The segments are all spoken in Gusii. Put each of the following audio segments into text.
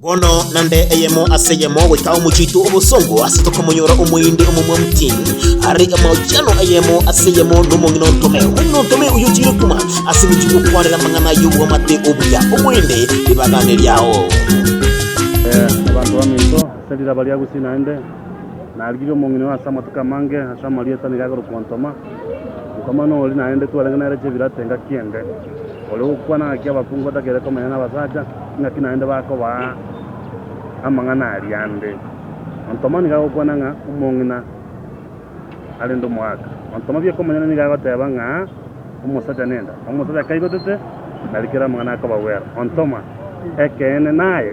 Bono nande eyemo ase eyemo goika omochitu obosongo ase tokomonyora omoindi omomwa mutini are amaochiano eyemo ase eyemo nomong'ina ontome omong'ina ontome oyo chire kuma ase michi gokwanera amang'ana y'obwamate obuya oboende ribagane riao Eh, abanto baminto ase riraba ria Gusii naende narigirie omong'ina oyo ase amatuko amange ase amarieta nigo akorokwa ontoma, Nkoma nori naende twarenge nere chebirate engaki ende. Oyo ogokwana ngaki abakungu batagete komenya nabasacha, ingaki naende bakobaa amang'ana aria ande. Ontoma nigo agokwana ng'a omong'ina arende omogaaka. Ontoma bi'okomonyene nigo agoteba ng'a omosacha nenda. Omosacha kaigotete, narikera amang'ana akobagwera. Ontoma, Ekeene naye.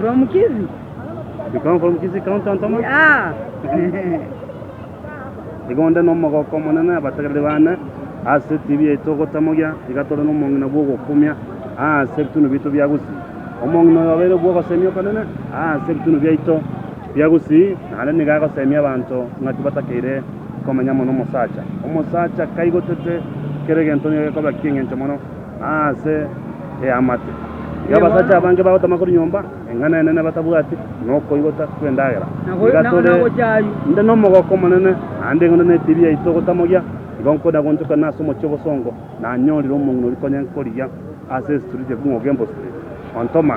From Kisii. You come from Kisii County, Antoma? Yeah. Igo onde n'omogoko omonene abategereri bane ase etibi yaito ogotamogia, iga tore nomong'ina bw'ogokumia ase ebitunu biaito bia Gusii. Omong'ina oyo obeire bw'ogosemia okonene ase ebitunu biaito bia Gusii, naende nigo agosemia abanto ng'aki batakeire komenya mono omosacha. Omosacha kaigotete kera egento nigo gekobaki engencho mono. Ase eamate y'abasacha abange bagotama korwa nyomba eng'ana enene batabwati nokoigota kw'endagera, iga tore inde nomogoko omonene, naende eng'ondo na etibi yaito gotamogia, igo nkoenda gonchokana ase omochie obosongo, nanyorire omong'ina oria konya nkorigia ase Street Ekung'u Ogembo Street, ontoma.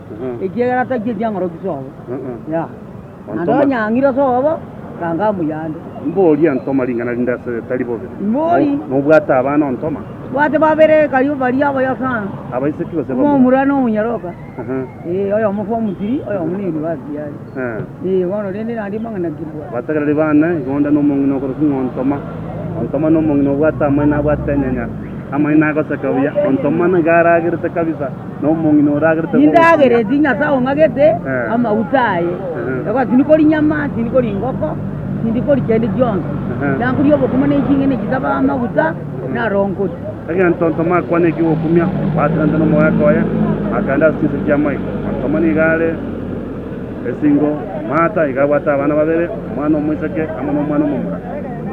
ekiagera tari ekiang'oroki sobo, ya, naende onye ang'ira sobo, ranga amoyande. Mbori ontoma ring'ana rinde ase ritari bobe, Mbori. na obwate abana ontoma. Bwate babere kario baria abayo sana, Abaiseki gose bamura. omomura na omonyaroka, Aha. ee, oyomo form three, oyomo na university are. Abatagereri bane, igonda nomong'ina okorokigwa ng'a Ontoma. Ontoma nomong'ina obwate amaino abwate enyenya, amaino agoseka buya. Ontoma nigo aragerete kabisa, nomong'ina oragerete Egento Ontoma akwane ekigokumia, bateganete nomogoeka oye, bakaenda ase chinse chi'amaiga. Ontoma nigo are. Esingo, Martha iga abwate abana babere, omwana omoiseke amo nomwana omomura.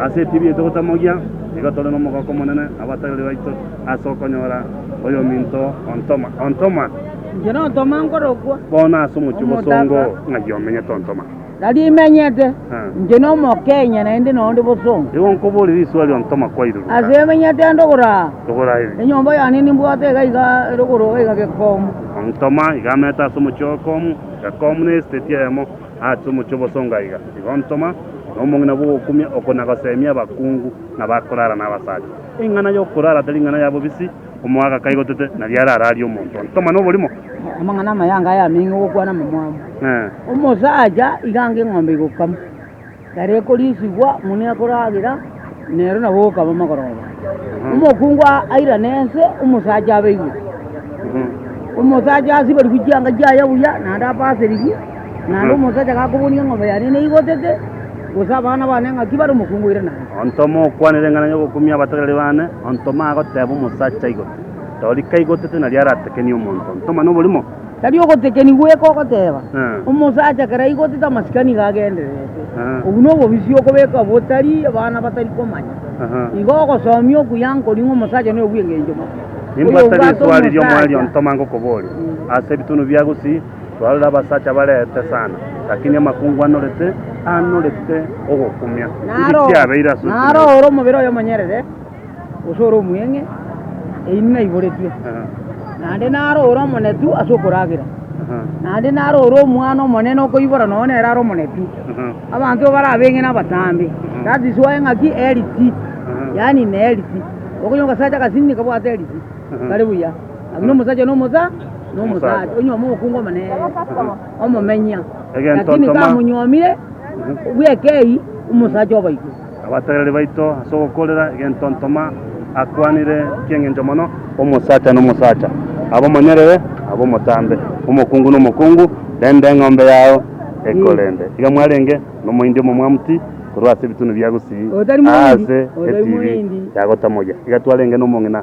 Ase etibi yaito gotamogia, nigo tore nomogooko omonene abategereri baito ase okonyora oyominto ontoma ontoma. Inche nontoma nkorokwa. Bono ase omochie bosongo ng'ai omenyete ontoma? Tari imenyete. Inche nomokenya naende noonde bosongo. Igo nkoborie riswali ontoma kwairuruka. Ase emenyete ande ogoro aa. Togora eri. Enyomba yane nimbwate iga iga erogoro iga gekomo. Ontoma iga amete ase omochie o Komu, iga Komu na esiteti eyemo ase omochie o Bosonga iga, iga ontoma na omong'ina bw'ogokumia oko na goseemia abakungu na bakorara na abasacha. Eng'ana y'okorara tari ing'ana ya bobisi, omowaga kaigotete, na riare ararie omonto ontoma na oborimo. Amang'ana amayanga ayameng'e ogokwana amamwamu. Omosacha iga ange eng'ombe igokamwa. Ekero ekoriisigwa, moni akoragera, nero nabo okaba mogoroba. Omokungu airane ense, omosacha abe igwe. Omosacha asiberigwe chianga chiaye buya, naende apaserigwe, naende omosacha gakobonia eng'ombe yane neigotete, gose abana bane ng'aki bare, omokungu airane ense. Onto mokwanire eng'ana y'ogokumia abatagari bane, onto magoteba omosacha aigotete. Tori kaigotete nari aratekenie omonto, onto mane oborimo. Tari ogotekenigwa goika ogoteeba, Omosacha kera aigotete amasikani iga agendererete. Obwo nobobisi okobeka botari abana batari komanya. Igo ogosomia okuya nkori ng'a omosacha noyo bw'engencho mobe. Nimbwate riswali ri'omoerio ntoma ngokoboria. Ase ebitunu bia Gusii twarorire abasacha barete sana, lakini amakungu anorete anorete ogokumia. Inki kiabeire ase okumia? Naro ore omobere oyo omonyerere. gose ore omweng'e, eyio naiboretwe, naende naro ore omonetu ase okoragera, naende naro ore omwana omonene okoibora nonya nere are omonetu. Abanto bare abeng'e nabatambe, that is why ng'aki healthy, yaani ime healthy. Okonywa ogasacha agasini nikabwate healthy, kari buya, lakini omosacha na omosa na omosacha, onyuoma omokungu omonene, omomenya, Egento lakini ntoma- kamonywomire bw'ekei, omosacha obaito. Abataiyorari baito ase ogokoorera egentontoma akwanire eki'engencho mono, Omosacha n'omosacha, abe omonyerere, abe omotambe, omokungu n'omokungu, rende eng'ombe yao ekorende. Iga mwarenge nomoindi omomwamuti korwa ase ebitunu bia gusii, aase etibi yagotamogia. Iga twarenge nomong'ina.